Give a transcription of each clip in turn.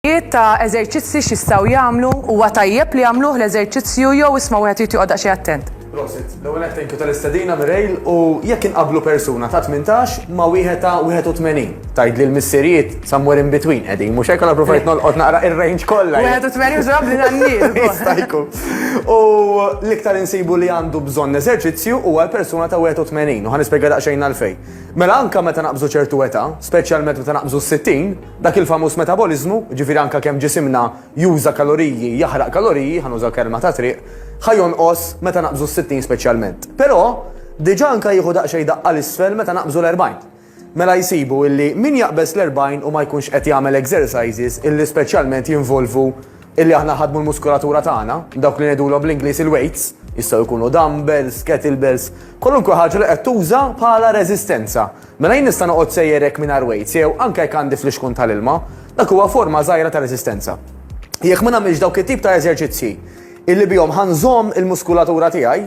Jiet ta' eżerċizzi x'jistgħu jagħmlu, huwa tajjeb li jagħmluh l-eżerċizzju jew isma' wieħed irid joqgħod daqsxejn attent. Prosit. L-ewwel nett thank you tal-istedina Mireille u jekk inqabblu persuna ta' tmintax ma' wieħed ta' 81, tgħidli l-missirijiet somewhere in between qegħdin, mhux hekk? Allura provajt nolqot naqra ir-range kollha. 81 mhux probabbli għan-nisa wkoll. Jista' jkun. U l-iktar insibu li għandu bżonn eżerċizzju huwa l-persuna ta' 81 u ħa nispjega daqsxejn għalfejn. Mela anke meta naqbżu ċertu età, speċjalment meta naqbżu s-60, Dak il-famuż metaboliżmu, jiġifieri anke kemm ġisimna juża kaloriji, jaħraq kaloriji, ħa nuża kelma ta' triq, ħa jonqos meta naqbżu s-sittin speċjalment. Però, diġà anke jieħu daqsxejn daqqa 'l isfel meta naqbżu l-erbgħin. Mela jsibu illi min jaqbeż l-erbgħin u ma jkunx qed jagħmel exercises illi speċjalment jinvolvu illi aħna nħaddmu l-muskulatura tagħna, dawk li ngħidulhom bl-Ingliż il-weights, jistgħu jkunu dumbbells, kettlebells, kwalunkwe ħaġa li qed tuża bħala reżistenza, Mela jien nista' noqgħod sejjer hekk mingħajr weights jew anke jekk għandi flixkun tal-ilma, dak huwa forma żgħira ta' reżistenza. Jekk ma nagħmilx dawk it-tip ta' eżerċizzji illi bihom ħa nżomm il-muskulatura tiegħi,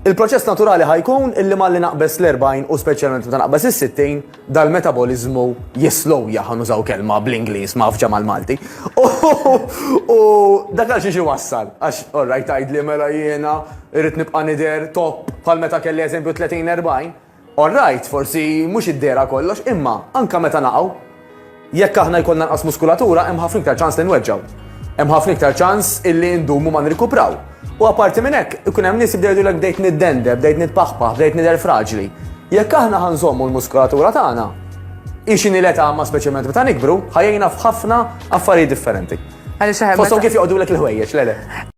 il-proċess naturali ħa jkun illi malli naqbeż l-40 u speċjalment meta naqbeż is-60, dal-metaboliżmu jislowja ħa nużaw kelma bl-Ingliż mgħaffġa mal-Malti. U dak għal xiex iwassal, għax orrajt tgħidli mela jiena irrid nibqa' nidher top bħal meta kelli eżempju 30-40, All right, forsi mhux id-dehra kollox, imma anke meta naqgħu, jekk aħna jkollna nqas muskulatura hemm ħafna iktar ċans li nweġġgħu. Hemm ħafna iktar ċans illi ndumu ma nirkupraw. U apparti minn hekk, ikun hemm nies jibdew jgħidulek bdejt niddendeb, bdejt nitpaħpaħ, bdejt nidher fraġli. Jekk aħna ħa nżommu l-muskulatura tagħna, hi xi nilgħa ta' ma speċjalment meta nikbru, ħa jgħinna f'ħafna affarijiet differenti. Fosthom kif joqgħodulek il-ħwejjeġ, le le.